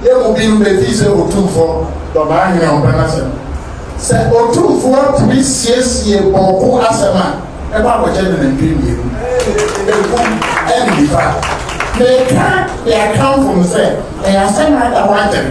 Yɛn mu binom bɛfii sɛ Otumfo dɔ maa Hene a ɔmpɛ n'asɛm. Sɛ Otumfoɔ tumi siesie bɔɔko asɛm a, ɛba abɔkyɛ ne nantwie mmienu. Ɛku ɛne nifa. Meka de akamfo no sɛ ɛyɛ asɛm a ada hɔ akyɛre.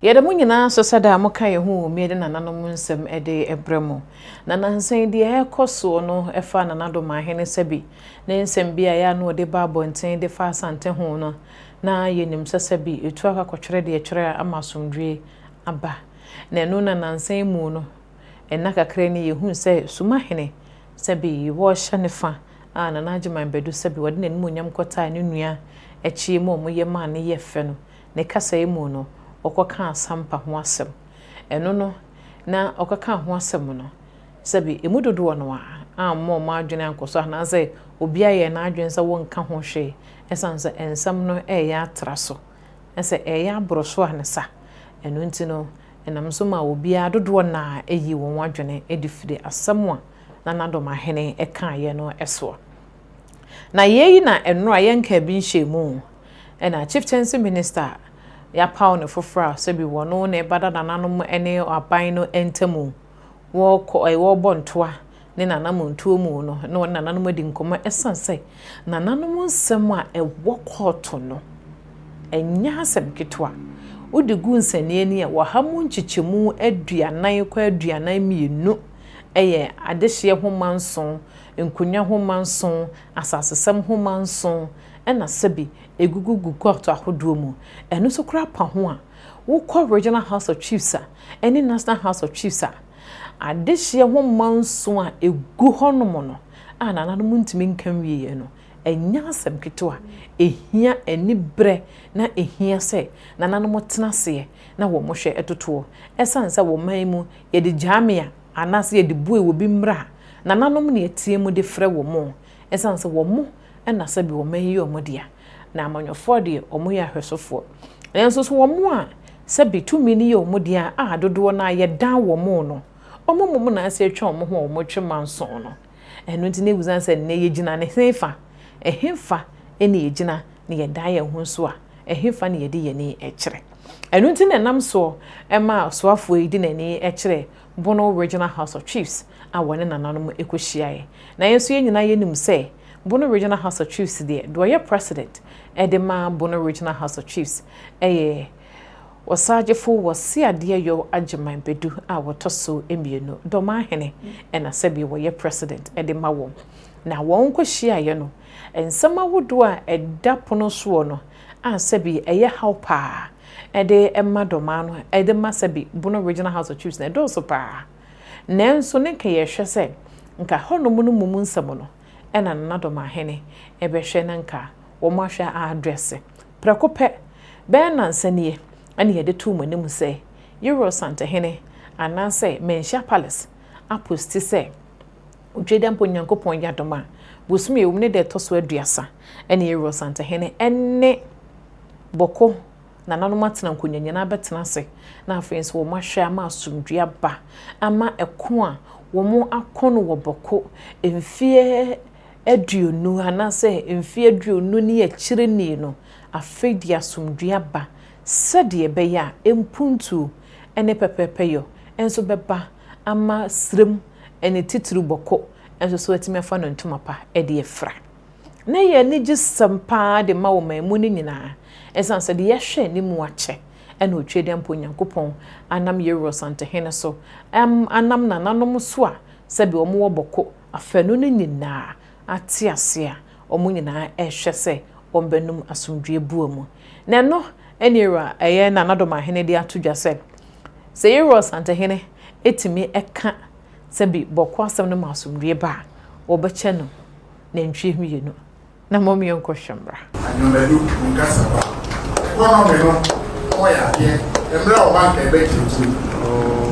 Yɛda mo nyinaa so sɛ daa moka yɛn ho wɔ Miadi nananom nsɛm de brɛ mo. Na nnansa yi deɛ ɛrekɔ soɔ no fa Nana Domahene Sabi ne nsɛm bi a ɛyɛ a na ɔde ba abɔnten de fa Asante ho no, na yɛnim sɛ Sabi tu akɔ akɔtwerɛ deɛ ɛtwerɛ a ama asomdwoeɛ aba. Na ɛno na nnansa yi mu no, nna kakra ni yɛhuu sɛ Sumahene Sabi wɔrehyɛ ne fa a Nana Agyeman Badu Sabi ɔde n'animuonyam kɔtaa ne nua Akyie mu a wɔyɛ maa no yɛ fɛ no, Ne kasae mu no, ɔkɔkaa Sampa ho asɛm. Ɛno no, na ɔkɔkaa ho asɛm no, sɛbe emu dodoɔ no ara amma wɔn adwene ankɔ so anaasɛ obiara yɛɛ n'adwene sɛ wɔnka ho hwee ɛsiane sɛ nsɛm no reyɛ atra so na sɛ ɛreyɛ aboro so a ne sa. Ɛno nti no, ɛnam so maa obiara dodoɔ no ara yii wɔn adwene adi firii asɛm a na n'adɔmahene kaeɛ no soɔ. Na yei na ɛnora yɛnkaa bi nhyɛɛ mu, ɛna Chieftaincy Minister yɛapaw no foforɔ a sɛbi wɔno na ɛba dada nanom ne aban no ntamu wɔkɔ ɛɛ wɔbɔ ntoa ne nanamontuo mu no na wɔne nananom adi nkɔmmɔ ɛsiane sɛ nananom nsɛm a ɛwɔ kɔɔto no ɛnyɛ asɛm ketewa wode gu nsɛnneɛ ni a wɔha mu nkyekyɛmu aduanan kɔ aduanan mmienu ɛyɛ adehyeɛ ho manson Nkonnwa nhoma nson, asasesɛm nhoma nson na sɛbi egugu gu kɔɔto ahodoɔ mu. Ɛno nso koraa pa ho a, wokɔ Regional House of Chiefs a ɛne National House of Chiefs a, adehyeɛ nhoma nson a ɛgu hɔnom no a nananom ntumi nka nwieɛ no, ɛnyɛ asɛm ketewa. Ɛhia aniberɛ na ɛhia sɛ nananom tena aseɛ na wɔhwɛ totoɔ. Ɛsiane sɛ wɔ man yi mu yɛde gyaa me a, Anaase yɛde bue wɔ bi mmerɛ a, nananom na yɛteam de frɛ wɔn o, esiane sɛ wɔn na sɛbe wɔn ayi wɔn dea, na amanyɔfoɔ deɛ wɔn yɛ ahwɛsofoɔ. Nanso so wɔn a sɛbe tumi no yɛ wɔn dea a dodoɔ no ara yɛdan wɔn no, wɔn mmom na ase atwa wɔn ho a wɔtwe manso no? Ɛno nti, na esiane sɛ nnɛ yegyina ne hefa, ɛhefa na yegyina na yɛdan yɛn ho nso a, ɛhefa na yɛde yɛn ani kyerɛ? Ɛno nti na ɛnam soɔ ma ɔsoafoɔ yi de n'ani kyerɛɛ Bono Regional House of Chiefs a wɔne nananom kɔhyiaeɛ. Na yɛn nso yɛn nyinaa yɛnim sɛ Bono Regional House of Chiefs deɛ, deɛ ɔyɛ President de ma Bono Regional House of Chiefs yɛ Ɔsaagyefo wɔ Seadeɛ Yow Agyeman Badu a wɔtɔ so mmienu, Dɔmaa Hene ɛna sɛdeɛ wɔyɛ President de ma wɔn. Na wɔn nkɔhyiaeɛ no, nsɛm ahodoɔ a ɛda pono soɔ no a sɛbi ɛyɛ haw paa de ma Dɔmaa no de ma sɛbi Bono Regional House of Chiefs no ɛdɔɔso paa. Nanso ne nka yɛhwɛ sɛ nka hɔnom no mu mu nsɛm no na Nana Dɔmaa Hene bɛhwɛ na nka wɔahwɛ a address Prɛko pɛ, bɛyɛ nnansa nie na yɛde too mo anim sɛ Yoroɔ Santehene anaasɛ Manhyia Palace aposti sɛ Twedeampo Nyankopɔn yɛ adom a, bosome a ɛwom ne da ɛtɔ so aduasa ne Yoroɔ Santehene ne Bɔko nananom atena nkonya nyinaa bɛtena ase na afei nso wɔn ahwɛ ama asomdwoe aba ama ɛko a wɔn ako no wɔ Bɔko mfeɛ aduonu anaasɛ mfe aduonu ne akyiri ni no afei de asomdwoe aba sɛdeɛ ɛbɛyɛ a mpuntuo ne pɛpɛɛpɛyɔ nso bɛba ama serem ne titiriw bɔkɔ nso so atumi afa no ntoma pa de afira. Na ɛyɛ anigyesɛm pa ara de ma ɔman mu no nyinaa ɛsiane sɛ deɛ yɛhwɛ anim akyɛ na Otwedeɛmpa Onyankopɔn anam Yewor Santehene so, anam nananom so a sɛdeɛ wɔwɔ bɔkɔ afanu no nyinaa ate ase a, wɔn nyinaa rehwɛ sɛ wɔbɛnom asomdwoeɛ bua mu. Na ɛno ne Yerua ɛyɛ Nanadomaahene de ato dwa sɛ, sɛ Yerua Ɔsantehene tumi ka sɛ bi bɔkɔ asɛm no ma asomdwoeɛ ba a, wɔbɛkyɛ no nantwie mmienu. na mmom yɛnkɔhwɛ mmra. Anwonadu nkasa ba. Ɛkɔ nɔme no ɔmɔ yɛ adeɛ ɛmmerɛ ɔba nka ɛbɛ gyinti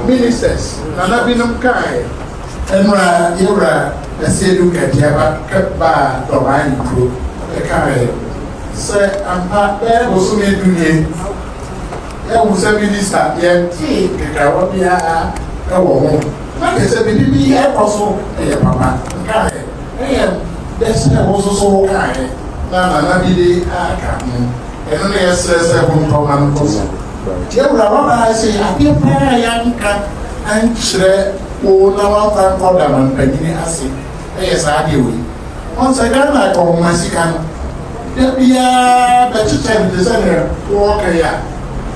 ministers nana binom kaɛ. Ɛmmerɛ yɛwura Ɛseɛ Duke Agyaba kɛ baa Dɔbaa Nkuro ɛkaɛ sɛ ampa bɛyɛ bosome du nie yɛahu sɛ minister yɛntee nkekaawa biara ɛwɔ ho na kyɛ sɛ biribi bi ɛkɔ so ɛyɛ papa nkaɛ Ɛyɛ dɛ sɛ wo nso so wokaeɛ na Nana bi de aka ho. Ɛno na yɛsrɛ sɛ wontɔ ma no kɔ so. Yɛn Wura, woabaa se adeɛ paa a yɛanka ankyerɛ wo na woamfa ankɔ Damanpanyini ase yɛ saa adeɛ wei. Woahu sɛ Ghana akɔnhoma sika no, da biara bɛkyekyɛ no te sɛ deɛ wowɔ kan a.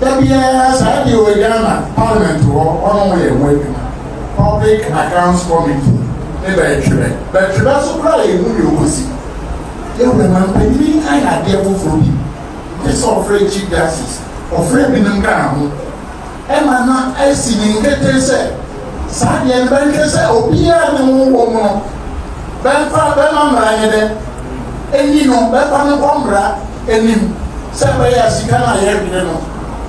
Da biara saa deɛ wɔ Ghana parliament hɔ wɔnom yɛ ho adwuma public accounts committee ne bɛtwerɛ bɛtwerɛ so koraa yɛ hu deɛ ɔkɔsi yɛ wura mampanyini ayɛ adeɛ foforɔ bi gye sɛ ɔfrɛ chief justice ɔfrɛ binom kaa ho ɛma na asi ne nkete sɛ saa deɛ no bɛnhwɛ sɛ obiara ne ho wɔ mu no bɛmfa bɛma mmara ne dɛ ɛni no bɛfa no kɔ mmara anim sɛ ɛbɛyɛ a sika no a yɛrewene no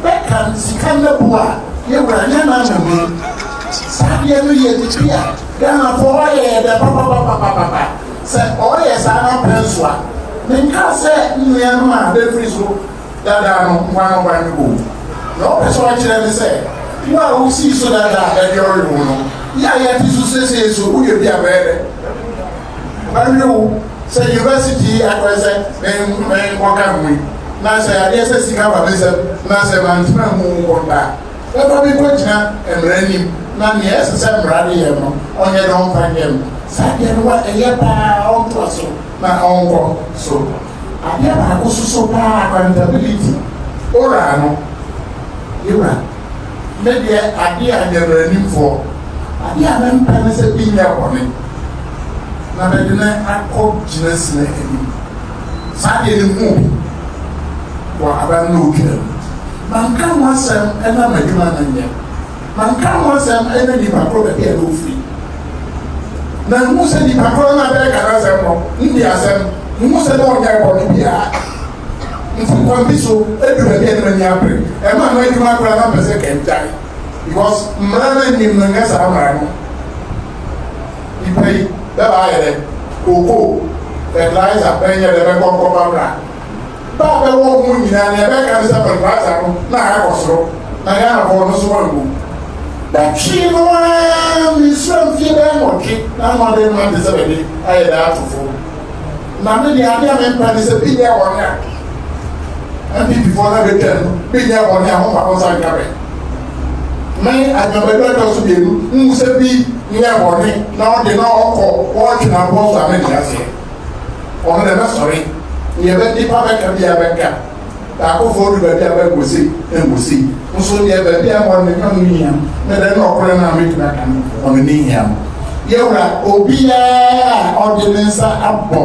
bɛka sika no bo a yɛwura nyɛ no ama mu. Saa deɛ no yɛ biribi a Ghanafoɔ wɔyɛ yɛ dɛ papapapapapa. Sɛ ɔyɛ saa na pɛnsoa. Menka sɛ nnua no a bɛfiri so dada no nkoa na ɔba no bɔ mu. Deɛ ɔpɛ sɛ ɔkyerɛ ne sɛ wo a wosii so dada a ɛdeɛ ɔyɛ wo no, yɛ a yɛte so seesei nso woyɛ bi a bɛyɛ dɛ. Mɛwe wo sɛ university yi akɔyɛ sɛ menkɔka ho yi na sɛ adeɛ sɛ sika ba me nsam na sɛ mantena mu nkɔ da a, mɛba mekɔgyina mmara anim na nea ɛsɛ sɛ mmara de yɛ no ɔnyɛ na ɔmfa nyɛ me. Saa adeɛ no wa ɛyɛ pa ara ɔntoa so na ɔnkɔ so. Adeɛ baako so so pa ara accountability owura no yɛwura me deɛ adeɛ a nyɛ mmaranimfoɔ adeɛ a mempɛ ne sɛ bi nyɛ bɔne. na bɛde no akɔ gyinasinɛ anim. Saa deɛ no huu bi wɔ aban no otwaa mu. Manka ho asɛm na m'adwuma no nyɛ. Manka ho asɛm na nnipa korɔ baabi a na ɔfiri. Manhunu sɛ nnipa korɔ no a bɛreka n'asɛm no nni asɛm. Nhunu sɛ na ɔnyɛɛ bɔne biara. Nti kwan bi so ɛduru baabi a na m'ani abere. Ɛmaa m'adwuma koraa na mpɛ sɛ kɛngyae because mmara no nnim no nyɛ saa mmara no. Nyimpa yi, bɛba ayɛ dɛ cocoa, fertilizer bɛnyɛ dɛ bɛkɔ nkɔfa bra. Ba a bɛwɔ hom nyina dza bɛka nye sɛ fertilizer no na akɔ sor na Ghanafo no so wɔnnwo mu. Bɛtwee no ara me nsuram fie bɛyɛ nwɔtwe na ano adan mu atse sɛ bɛdze ayɛ dɛ ato fɔw. Na me deɛ adeɛ a mempɛ ne sɛ bi nyɛ bɔne a MPPfoɔ no bɛtwa no bi nyɛ bɔne a homfa mo nsa nka me. Me adwamadu ɛtɔ so mmienu nhu sɛ bi nyɛ bɔne na ɔde na ɔkɔ wɔtwe na bɔ so a mente aseɛ. Ɔno na ɛbɛsɔre. Deɛ bɛ nipa bɛka bi a bɛka. Daako fɔɔ du baabi a bɛ gosi engosi nso deɛ baabi a wɔn nka no hia ne dɛ ne ɔkorɛ no a metumi aka no wɔn ne hia no. Yɛwura obiara a ɔde ne nsa abɔ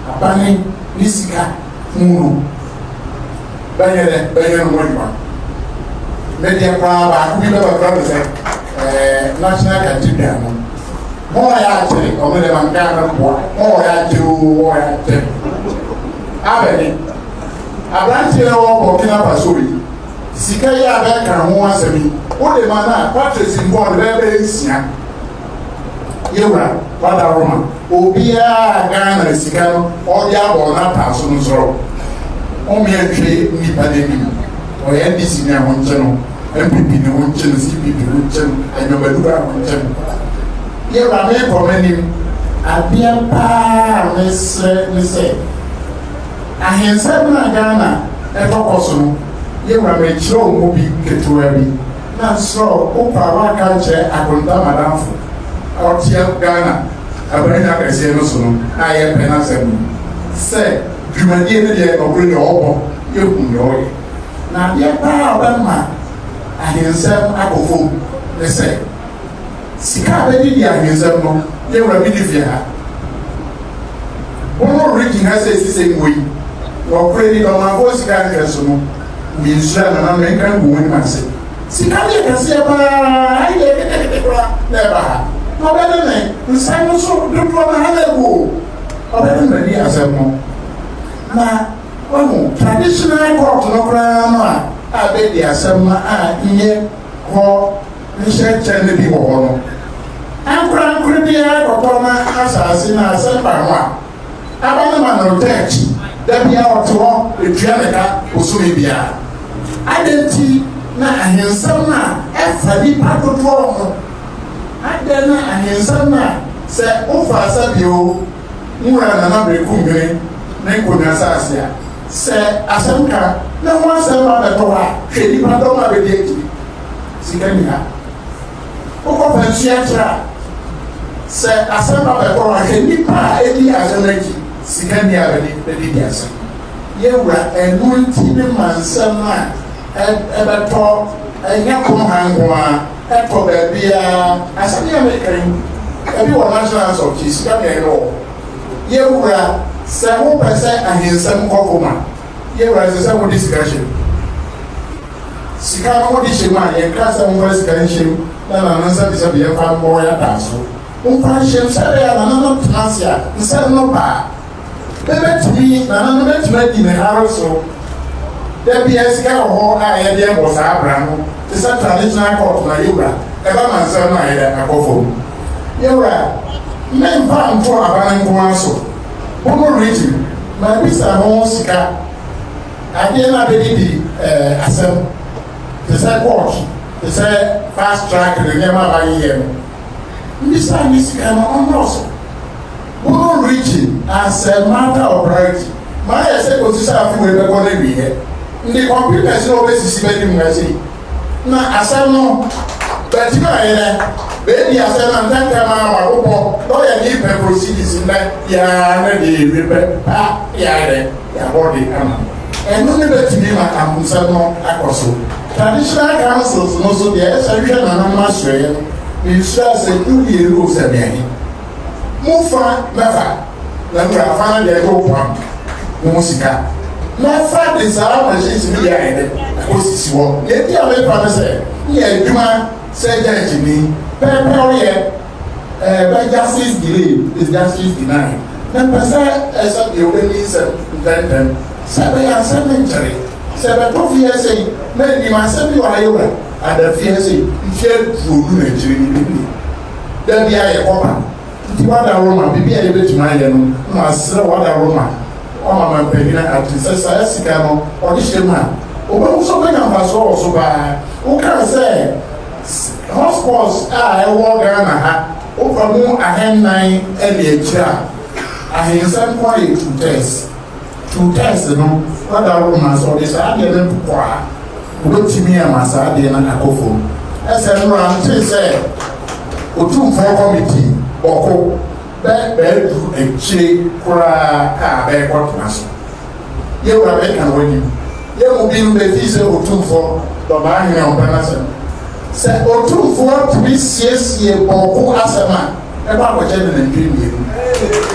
abane ne sika mu no bɛyɛ dɛ bɛyɛ no ho adwuma. Me deɛ koraa baako bi bɛba kora me sɛ ɛɛ National Cathedral no Mo a yɛakyɛ ɔmo dɛ ma nka no boa mo wɔ yɛakyɛ oo wɔ yɛakyɛ. Abɛne, aberanteɛ a ɔwɔ Burkina Faso yi, sika yi a bɛka ho asɛm yi, wode ma no a, Patrice nko ɔde bɛyɛ bɛyɛ nsia. Yɛwura, wada hɔ ma obiara Ghana sika no ɔde abɔ n'ataaso no soro. Ɔmmea nhwɛ nnipa n'anim. Ɔyɛ NDC ni a wonkye no, NPP ni wonkye no, CPP wonkye no, Anyɔbadu a wonkye no. Deɛ wura meekɔ m'anim. Adeɛ paa a mesrɛ ne sɛ ahensɛm no a Ghana ɛtɔ kɔ so no, yɛwura mekyerɛ wo mu bi ketewaa bi na nsrɛ wo wopɛ a woaka akyerɛ Akonta madamfo a ɔte Ghana aban akɛseɛ no so no a yɛpɛ n'asɛm no sɛ Dwumadie no deɛ nɔkore deɛ ɔbɔ yɛhu deɛ ɔyɛ na adeɛ paa a ɔbɛma ahensɛm akɔ fam ne sɛ sika a bɛgye di ahensɛm no yɛ wura bi ne fie ha bono regye ha sɛ ɛsi sɛ ngu yi nɔkore ni dɔmanfoɔ sika nhwɛ so no mensura nana menka ngu wɔn ase sika deɛ kɛseɛ paa ayi deɛ kekekeke kora na ɛba ha na ɔbɛde ne nsa no so dodoɔ na ha na ɛgu o Ɔbɛ no na di asɛm no. Na wahu traditional court no koraa no a abɛ di asɛm no a nyɛ hɔ nhyɛ kyɛ no bi wɔ hɔ no. Ankorankor biara kɔtɔ na asaase na asɛm ba ho a, aba no ma no church da biara ɔte hɔ etua ne ka bosome biara. Adɛn nti na ahensɛm no a ɛfa nipa dodoɔ ho? Adɛn na ahensɛm no a Sɛ wofa Sabio wura Nana Berekumhene ne Nkonya asase a, sɛ asɛnka ne ho asɛm ba bɛtɔ hɔ a, hwɛ nnipa dɔm a bɛdi akyire. Sika nni ha. Wokɔ Fansuakyerɛ a, sɛ asɛm ba bɛtɔ hɔ a, hwɛ nnipa a ɛdi asɛm no akyi. Sika nni a bɛde bɛde di asɛm. Yɛwura, ɛno nti ne ma nsɛm a ɛbɛtɔ ɛnyɛ kɔm ha nko ara. Ɛtɔ baabiara, asɛm yi a meka yi, ebi wɔ National House of Chiefs, sika deɛ ɛwɔ hɔ. Yɛwura, sɛ wopɛ sɛ ahensɛm kɔ fam a, yɛwura ɛsɛ sɛ wode sika hyɛ mu. Sika no wode hyɛ mu a, yɛnka sɛ momfa sika nhyɛ mu na nana nsɛbisɛbi yɛmfa mmɔ yɛn adaaso. Momfa nhyɛ mu sɛdeɛ nana no tena ase a, nsɛm no ba a, Ebetumi, nananom betumi adi me hare so. Da biara sika wɔ hɔ a yɛde bɔ saa bra no, te sɛ traditional court ma yewura, ɛba ma nsɛm no ayɛ dɛ, akɔ fam. Yewura, memfa nto aba no nko ara so, bo no regye me ma mebisa ho sika, adeɛ no a bedidi eh, asɛm, te sɛ court, te sɛ fast track ne nneɛma a bayeyɛ no. Mbisa ne sika no ɔnnɔɔso. Woro regye asɛm matter of priority ma ayɛ sɛ kosi sɛ afe wei bɛkɔ n'awieɛ nde kɔpem ɛse na ɔbɛsisi bɛnim na sei na asɛm no bɛtemi ayɛ dɛ bɛadi asɛm na ntɛntɛm ara wabobɔ na ɔyɛ dee pɛ proceedings nnɛ biara na dee yɛwie pɛ paa na yɛayɛ dɛ yɛabɔ de ama no ɛno ne bɛtumi ma ahomsɛm no akɔ so traditional councils no so deɛ ɛsɛ hwɛ nananom asoɛeɛ no mensuro asɛm no mmienu o sɛ meɛhe Mo fa mɛfa, na mo deɛ afa no deɛ ɛyɛ opoa mo, mo mo sika. Mɛfa de saa machines no bi ayɛ dɛ akɔsisi hɔ. Deɛ enti a mefa ne sɛ, yɛ adwuma sɛ gyɛɛgyeni, pɛpɛwyɛ, eh, bɛ justice delayed is justice denied. Mepɛ sɛ eh, sɛdeɛ wobɛni nsɛm ntɛntɛm, sɛ ɛbɛyɛ a nsɛm no nkyere. Sɛ bɛtɔ fie sei, na nim asɛm bi wɔ ha yɛwura, ada fie sei, mfeɛ aduonu na akyire no bɛni. Da bi a yɛkɔ ba no, nti wada Roma, biribi a yɛbɛtumi ayɛ no, masrɛ wada Roma, wama mampanyin ate sɛ saa sika no ɔde hyɛ mu a, ɔbɛhu sɛ ɔbɛnya mfasoɔ wɔ so paa. Wokaa sɛ hotspots a ɛwɔ Ghana ha, wofa mu ahannan de akyire a, ahensɛm ko ayɛ two thirds. Twi text no dadaw no ma sɛ wɔde saa adeɛ no ntokɔ a, wɔbɛtumi ama saa adeɛ no akɔ fam. Ɛsɛ mmara no te sɛ Otumfoɔ Kɔmiti bɔko bɛ bɛadu akyire koraa a bɛrekɔtena so. Yɛ wura bɛka no w'anim. Yɛ mu binom bɛfii sɛ Otumfoɔ Dɔbaa Hene Ɔmpɛ no asɛm. Sɛ Otumfoɔ tumi siesie bɔko asɛm a, ɛma abɔkyɛ ne nantwie mmienu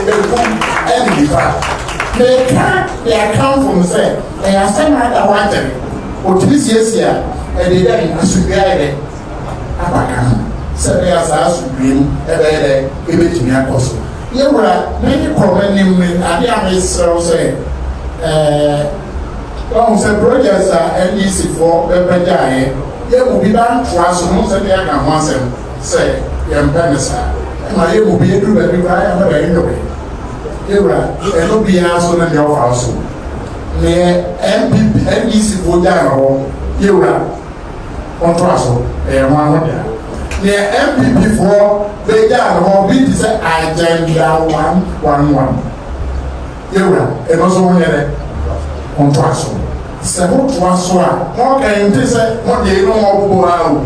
ɛkum ɛne nipa meka de akamfo no sɛ ɛyɛ asɛm a ada hɔ akyɛre ɔtumi siesie a ɛde dɛ asomdua ayɛ dɛ aba ka ho sɛ ɛbɛyɛ saa asomdua mu ɛbɛyɛ dɛ ɛbɛtumi akɔ so yɛwura mɛne kɔ m'anim ne adeɛ a mesrɛ wo sɛ wahu sɛ projects a ndc foɔ bɛbɛgyaeɛ yɛ mu bi ba ntoa so no sɛ de aka ho asɛm Sɛ yɛmpɛ no saa ɛma yɛn mu bi yɛduru baabi koraa yɛn ho da yɛn dɔ bɛn yɛwura ɛno biara so no deɛ ɔfa so neɛ NPP NDC foɔ gyaa no hɔ yɛwura ɔntoa so ɛyɛ ho ahoda neɛ NPP foɔ bɛgyaa no hɔ bi te sɛ agenda one one one Yewura, eno so wonyɛ dɛ? Ontoa so. Sɛ hotoa so a, honka ente sɛ hode eno ho ɔbobo ara o,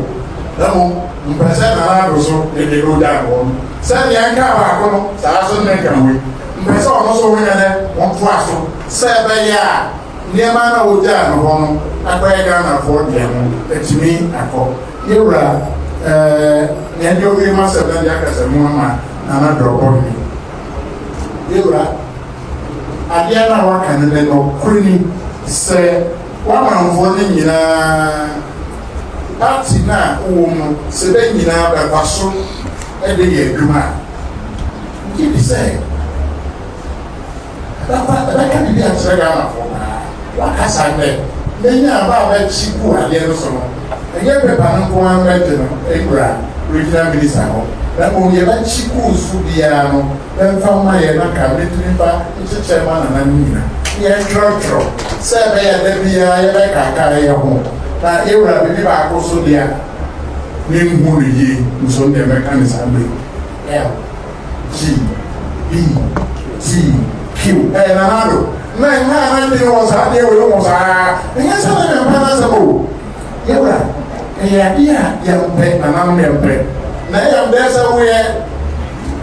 na mmom mopɛ sɛ Nanado so ede eno gya noɔ no. Sɛdeɛ enkaa baako no, saa ara nso ne nka woi. Mopɛ sɛ ɔno nso wonyɛ dɛ? Ontoa so. Sɛ ebeye a nneɛma no a wogyaa no hɔ no akɔyɛ Ghanafoɔ dea no, atumi akɔ. Yewura, eh, nea ede owie m'asem no de akasa mu ama Nanado ɔbɔhene. Me wura, adeɛ no a woaka no ne nokorɛ ni sɛ w'amanfoɔ no nyinaa, party no a wowɔ mu no, sɛ bɛ nyinaa bɛkwa so de yɛ adwuma a, wogye di sɛ ɛbɛkwa ɛbɛka biribi akyerɛ Ghanafoɔ paa. Woaka saa dɛ, mɛnya aba a bɛkye gu adeɛ no so no. Ɛnyɛ paper no nko ara bɛgye no akura Regional Minister hɔ, na mmom yɛbɛkye course so biara no bɛmfa mma yɛn na ka mɛtumi mfa nkyekyɛ mma nananom nyina na yɛntwerɛtwerɛ sɛ ɛbɛyɛ a da biara yɛbɛkaakae yɛ ho na yɛwura biribi baako so deɛ menhu no yie nso ndeɛ mɛka no saa berɛ yi. G, B, T, Q. Ɛyɛ Nana Addo. Na mmaa a n'adwene wɔ saa adeɛ wei ho saa. Ɛnyɛ sɛ na mempɛ n'asɛm o. Me wura, ɛyɛ adeɛ a yɛmpɛ, nananom yɛmpɛ. Na ɛyam dɛ sɛ woyɛ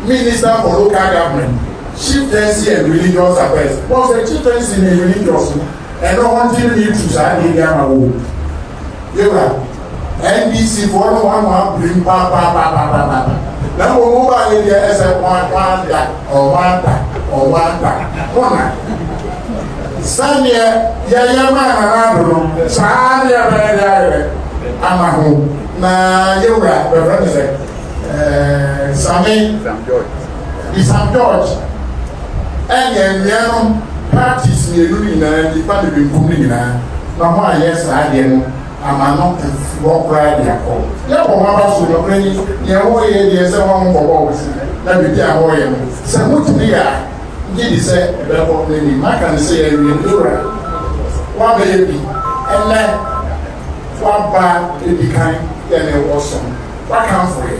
Minister for Local Government, Chieftaincy and Religious Affairs. Wɔn sɛ Chieftaincy ne Religious no, ɛno ho nti no meretu saa adeɛ bi ama wo o. Me wura. NDC foɔ no hoahoa brim paapaapaapaapaapa na mmom mo baa yɛ deɛ ɛsɛ hoan hoan da ɔhoan da ɔhoan da mo na sɛdeɛ yɛyɛ maa nana ado no saa ne yɛbɛyɛ de ayɛ ama ho na yɛwura bɛfrɛ ne sɛ ɛɛ same bisam george ɛnyɛ mmea no parties mmienu no nyinaa nifa ne benkum no nyinaa na ho ayɛ saa deɛ no ama no mfi hɔ koraa de akɔ. Yɛ bɔ mo abaso nokorɛ ni, deɛ mo reyɛ deɛ sɛ mo a mo kɔbɔ mo ti na biribi a mo reyɛ no sɛ mo tumi yɛ a gye di sɛ ɛbɛkɔ na nim maka no sɛ yɛ wie me wura wa bɛ yɛ bi ɛnɛ wa ba ɛdi kan yɛ ne wɔ som wa kanfo yɛ.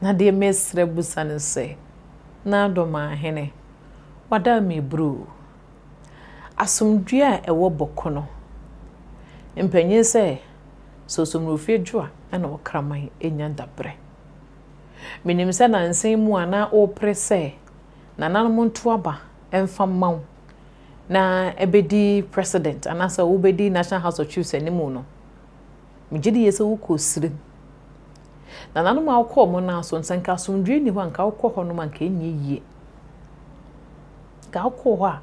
Na deɛ mesrɛ busa ne sɛ, N'adomaahene, wada meebruu. Asomdwoeɛ a ɛwɔ Bɔko no, mpanyin sɛ Sosomurofiɛ Dwoa na Ɔkraman nya dabrɛ. Menim sɛ nansa yi mu a na wopere sɛ nananom nto aba mfa mma wo na bɛdi President anaasɛ wobɛdi National House of Chiefs anim no, Megye di yie sɛ wokɔɔ sire mu. Nananom a wokɔɔ wɔn nan so, sɛ nka asomdwoeɛ nni hɔ a, nka wokɔ hɔnom a, nka ɛnyɛ yie. Nka wokɔɔ hɔ a,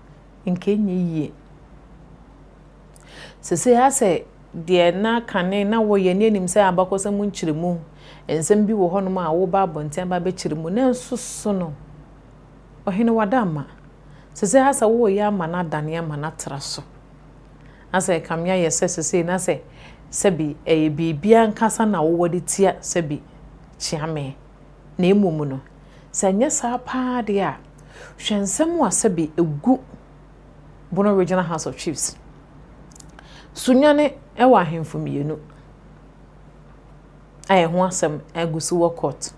nka ɛnyɛ yie. Sesei ha sɛ deɛ na kane na wɔyɛ ne anim sɛ abakɔsɛm nkyerɛmu, nsɛm bi wɔ hɔnom a woba abɔnten aba abɛkyerɛ mu, nanso so no, ɔhene wada ama. Sesei ha sɛ woreyɛ ama no adane ama no atra so. Na sɛ ɛkame ayɛ sɛ sesei na sɛ sɛbi ɛyɛ biribi ankasa na wowɔ de tia sɛbi kyea me, na mmom no, sɛ ɛnyɛ saa paa deɛ a, hwɛ nsɛm a sɛbi ɛgu Bono Regional House of Chiefs so nwane wɔ ahemfo mmienu a ɛho asɛm agu so wɔ court.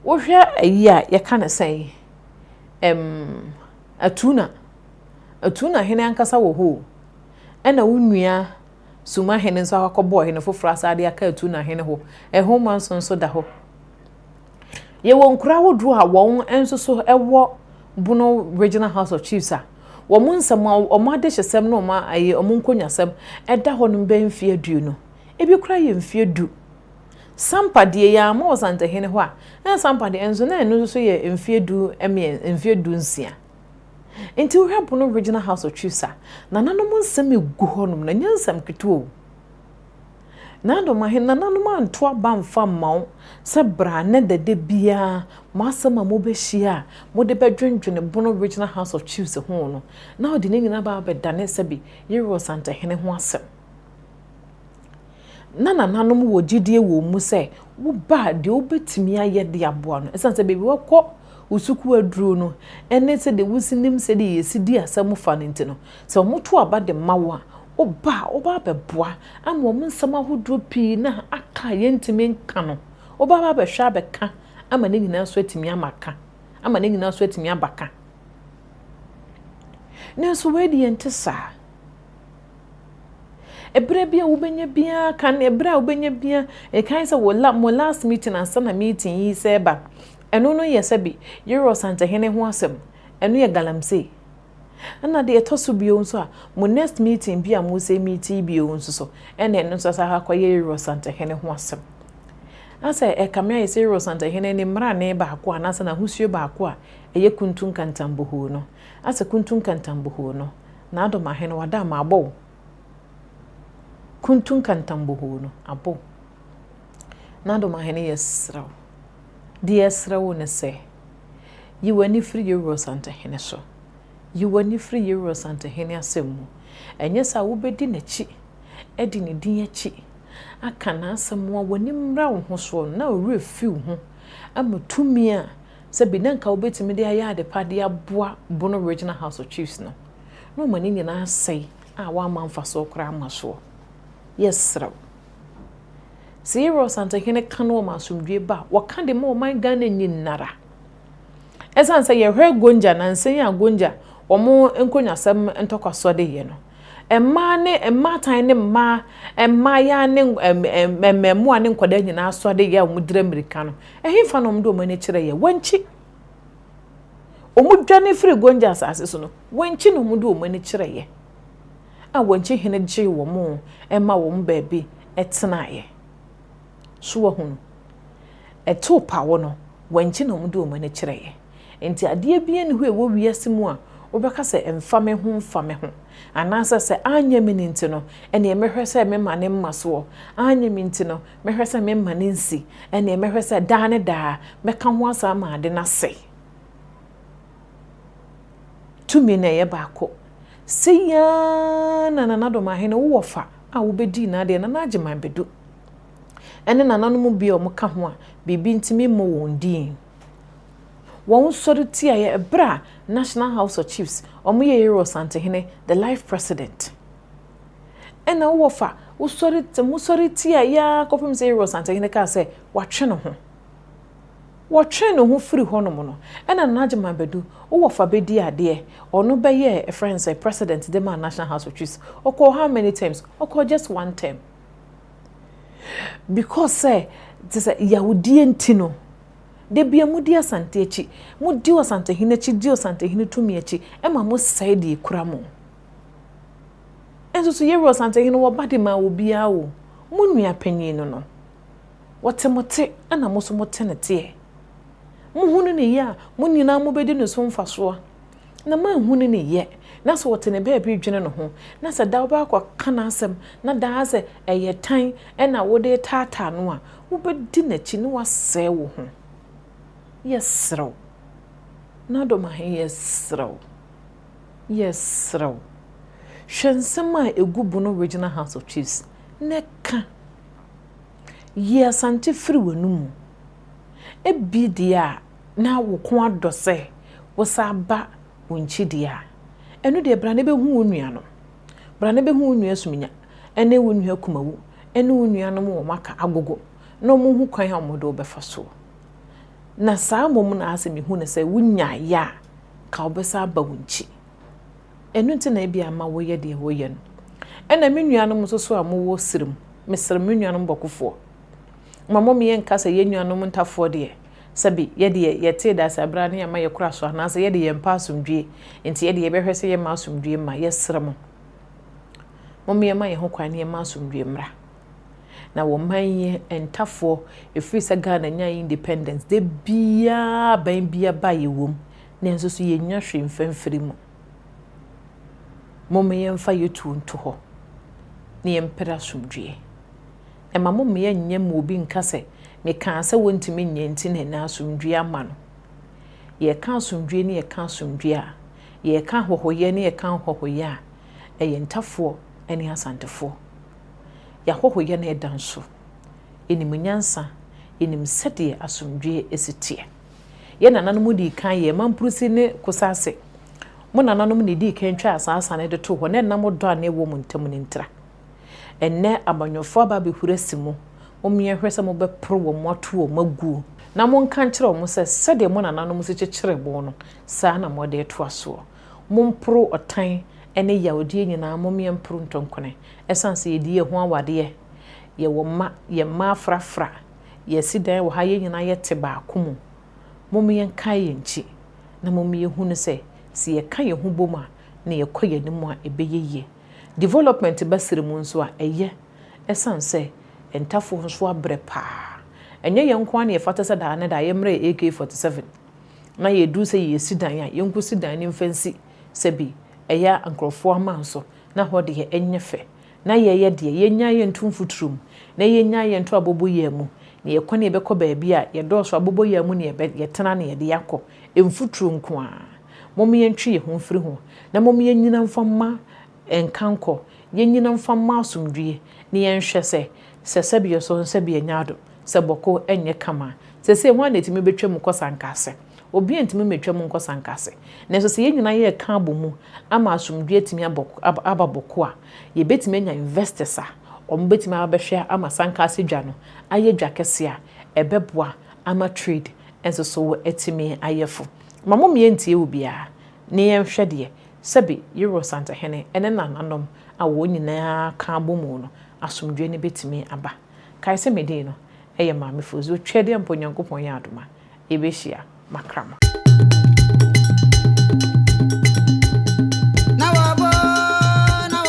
Wohwɛ ayi a yɛka no sɛn? Ɛm. Atuna, Atuna hene ankasa wɔ hɔ o, ɛna wo nua Suma hene nso akɔbɔ ɔhene foforɔ asan de aka Atuna hene hɔ, ɛho ma nso nso da hɔ. Yɛwɔ nkuro ahodoɔ a wɔn nso so wɔ Bono Regional House of Chiefs a wɔn nsɛm, wɔn adehyesɛm ne wɔn nkonyasɛm da hɔ no bɛyɛ mfeɛ aduonu, ebi koraa yɛ mfeɛ du. Sampa deɛ yɛamma Ɔsantehene hɔ a, na Sampa deɛ nso na ɛno nso yɛ mfeɛ du mmien, mfeɛ du nsia. Nti wohwɛ Abono Regional House of Chiefs a, nananom nsɛm ɛgu hɔnom, na nyɛ nsɛm ketewa o. Na adom ahene, nananom anto aba amfa mma wo sɛ bra nnɛ da da biara mo asɛm a mobɛhyia a mode bɛdwendwene Bono Regional House of Chiefs ho no, na wode ne nyinaa aba abɛdane sɛbe yere Ɔsantehene ho asɛm. na nananom wɔ gyidie wɔ mu sɛ wo ba deɛ wobɛtumi ayɛ de aboa no ɛsiane sɛ baabi wakɔ wo sukuu aduro no ɛne sɛdeɛ wosi nim sɛdeɛ yɛsi di asɛm fa no nti no sɛ wɔn to aba de ma wo a woba a woba abɛboa ama wɔn nsɛm ahodoɔ pii na aka a yɛntumi nka no woba aba abɛhwɛ abɛka ama ne nyinaa so atumi ama ka ama ne nyinaa so atumi aba ka nanso wei deɛ nte saa Ɛberɛ biara wobɛnya biara kan ɛberɛ a wobɛnya biara ɛkan sɛ wo la mo last meeting ansa na meeting yi sɛ ɛba ɛno no yɛ sɛ bi yerɛ ɔsantehene ho asɛm ɛno yɛ galamsey ɛna deɛ ɛtɔ so bio nso a mo next meeting bi a mo sɛ meet yi bio nso so ɛna ɛno nso sɛ akɔ yɛ yerɛ ɔsantehene ho asɛm asɛ ɛkame ayɛ sɛ yerɛ ɔsantehene ne mmarane baako a nasɛ n'ahosuo baako a ɛyɛ kuntu nkantambohoo no asɛ kuntu nkantambohoo no N'adom ahe no wada ama abɔ wo Kuntu nkantam bohoo no abɔ wo N'adom ahe no yɛsrɛ wo Deɛ yɛsrɛ wo ne sɛ Yi w'ani firi Yewura Ɔsantehene so Yi w'ani firi Yewura Ɔsantehene asɛm mu Ɛnyɛ saa a wobɛdi n'akyi Adi ne din akyi Aka n'asɛm a w'ani mmra wo ho soɔ no na wo werɛ fi wo ho Ama tumi a Sɛ bi na nka wobɛtumi de ayɛ adepa de aboa Bono Regional House of Chiefs no, na ɔma ne nyinaa asɛe a woamma mfasoɔ koraa amma soɔ. Yɛsrɛ wo. Sɛ yɛwura Ɔsantehene ka no ɔma asomdwoeɛ ba a, wɔka de ma ɔman Ghana nyinara. Ɛsiane sɛ yɛhwɛ Gonja nansa yi a Gonja wɔn nkonyasɛm ntɔkwasoɔ de yɛ no, mmaa ne mmaatan ne mmaa, mmaayaa ne mmɛɛmoa ne nkwadaa nyinaa soa de yɛ a wɔdira mmirika no, Ɛhefa na wɔde wɔn ani kyerɛ yɛn? Wɔankyi. Wɔdwane firii Gonja asase so no, wɔankyi na wɔde wɔn ani kyerɛ yɛn, a wɔankyi hene gyee wɔn ma wɔn baabi tenaeɛ. So wahunu? Ɛtoo pawɔ no, wɔankyi na wɔde wɔn ani kyerɛ yɛn. Enti adeɛ biara nni hɔ a ɛwɔ wiase mu a wobɛka sɛ mfa me ho mfa me ho, anaasɛ sɛ anyɛ me no nti no, ɛnneɛ mɛhwɛ sɛ mema no mmasoɔ, anyɛ me nti no, Mɛhwɛ sɛ memma no nsi, ɛnneɛ mɛhwɛ sɛ daa ne daa mɛka ho asɛm ama ade no asɛe. Tumi na ɛyɛ baako. Sei ara na Nana Domaahene wo wɔfa a wobɛdii n'adeɛ Nana Agyeman Badu ne nananom bi a wɔka ho a biribi nti memmɔ wɔn din. Wɔn nsɔre tiaeɛ ɛberɛ a National House of Chiefs wɔyɛ Yero Asantehene the life president. Ɛna wo wɔ fa wosɔre t mosɔre tia yɛ ara kɔpem sɛ Yere Ɔsantehene kaa sɛ watwe ne ho. Wɔtwee ne ho firi hɔnom no, ɛna Nana Gyimah Badu, wo wɔ fa bɛdii adeɛ. Ɔno bɛyɛɛ ɛfrɛ no sɛ President de maa National House of Chiefs. Ɔkɔɔ how many terms? Ɔkɔɔ just one term. Because sɛ te sɛ yawdie nti no, da bia modi Asante akyi. Modi Ɔsantehene akyi, di Ɔsantehene tumi akyi, ɛma mosɛe deɛ ɛkura mo. Nso so Yeroboam Asantehene wɔ ba de maa obiara o, mo nua panyin no no. Wɔte mo te ɛna mo so mo te ne teɛ. Mohunu ne yɛ a, mo nyinaa mo bɛdi ne so mfasoɔ. Na mo anhunu ne yɛ, na sɛ ɔte ne baabi dwene ne ho, na sɛ daa wobɛakɔ ka n'asɛm, na daa sɛ ɛyɛ tan ɛna wode retaataa no a, wobɛdi n'akyi na wasɛe wo ho. Yɛsrɛ wo. N'adom ahe yɛsrɛ wo. Yɛsrɛ wo, hwɛ nsɛm a ɛgu Bono Regional House of Chiefs na ka. Yi Asante firi w'anomu. Ɛbi deɛ a na wo ko adɔ sɛ wo san aba wo nkyi deɛ a, ɛno deɛ bra na bɛhu wo nuanom. Bra na bɛhu wo nua Suminya ne wo nua Kumawu ne wo nuanom wɔ Maka, Agogo na wɔhu kwan a wɔde wo bɛfa soɔ. Na saa mmom na asɛ mehu no sɛ wonya ayɛ a, anka wɔbɛsan aba wo nkyi. Ɛno nti na ebia ama woyɛ deɛ woyɛ no. Ɛna me nuanom nso so a mowɔ Sirem, mesrɛ me nuanom bɔkofoɔ, ma mo meɛ nka sɛ yɛn nuanom ntafoɔ deɛ, sɛbe yɛdeɛ yɛtee Daseaberɛ a na yɛma yɛkora so anaasɛ yɛde yɛmpɛ asomdwie, nti yɛdeɛ yɛbɛhwɛ sɛ yɛma asomdwie ma. Yɛsrɛ mo, mommeɛma yɛn ho kwan na yɛma asomdwie mmra. Na wɔ man yi ntafoɔ ɛfiri sɛ Ghana nyae independence da biara aban biaba yɛwom nanso so yɛnnya hwee mfa mfiri mu. Moma yɛmfa yɛtuo nto hɔ na yɛmpere asomdwoeɛ. Ɛma mo mmea nyɛ ma obi nka sɛ mekaa sɛ wɔntumi nyɛ nti na ɛnɛ asomdwoeɛ ama no. Yɛka asomdwoeɛ ne yɛka asomdwoeɛ a, yɛka ahɔhoyɛ ne yɛka nhɔhoyɛ a, ɛyɛ ntafoɔ ne asantefoɔ. Yɛahoho yɛn ɛda nso. Yɛnim nyansa, yɛnim sɛdeɛ asomdwoeɛ si teɛ. Yɛn nananom dii kan yɛɛ mampurusi ne kosase. Mo nananom na ɛdii kan twaa saa sa no de too hɔ na ɛnam ɔdɔ a na ɛwɔ mo ntam no ntira. Ɛnnɛ amanyɔfoɔ aba abɛhuri asi mo. Momyɛ nhwɛ sɛ mobɛporo wɔn moato wɔn aguo. Na monka nkyerɛ wɔn sɛ sɛdeɛ mo nananom si kyekyeree mo no, saa na mode retoa soɔ. Momporo ɔtan ne yawodeɛ nyinaa, mommeɛ mporo ntɔnkone. Ɛsiane sɛ yɛdi yɛn ho awadeɛ, yɛwɔ mma, yɛn mma afrafra, yɛasi dan wɔ ha, yɛn nyinaa yɛte baako mu. Mommeɛ nkae yɛn nkyi, na mommeɛ nhunu sɛ, sɛ yɛka yɛn ho bom a, na yɛkɔ yɛn anim a, ɛbɛyɛ yie. Development ba serɛ mu nso a, ɛyɛ, ɛsiane sɛ ntafoɔ nso abrɛ paa. Ɛnyɛ yɛn nko ara na ɛfata sɛ daa ne daa yɛmmrɛ yɛn AK-47. na yɛduru sɛ yɛresi dan a, yɛnkɔsi dan no mfa nsi sɛ bi ɛyɛ a nkurɔfoɔ aman so na hɔ deɛ ɛnyɛ fɛ, na yɛyɛ deɛ, yɛnnyae yɛnto mfuturo mu, na yɛnnyae yɛnto abɔbɔyea mu, na yɛkɔ na yɛbɛkɔ baabi a yɛdɔɔso abɔbɔyea mu na yɛbɛ, yɛtena na yɛde akɔ, mfuturo nko ara, mom yɛntwe yɛn ho mfiri ho, na mom yɛnnyina mfa mma. Nka nkɔ, yennyina mfa mmɔ asomdwie, na yɛnhwɛ sɛ, sɛ sɛbeɛ so nso sɛbeɛ nya adom, sɛ bɔko nyɛ kama a. Seesei hwan na etumi betwa mu kɔ sankahse? Obiara ntumi mmetwa mu nkɔ sankahse. Nanso sɛ yɛn nyinaa yɛka abɔ mu ama asomdwie atumi abɔ, aba bɔko a, yebetumi anya investors a wɔbetumi aba abɛhwɛ ama sankahse dwa no ayɛ dwa kɛse a ɛbɛboa ama trade nso so atumi ayɛ fo. Ma mommea ntie obiara, na yɛnhwɛ deɛ Sɛbe Yeror santehene ne nananom a wɔn nyinaa ka abɔ mu no asomdwoe no betumi aba. Kae sɛ me din no yɛ Maamefo Zoo Twɛdeɛ mpo Nyankopɔn yɛ adom a, yebehyia Makram.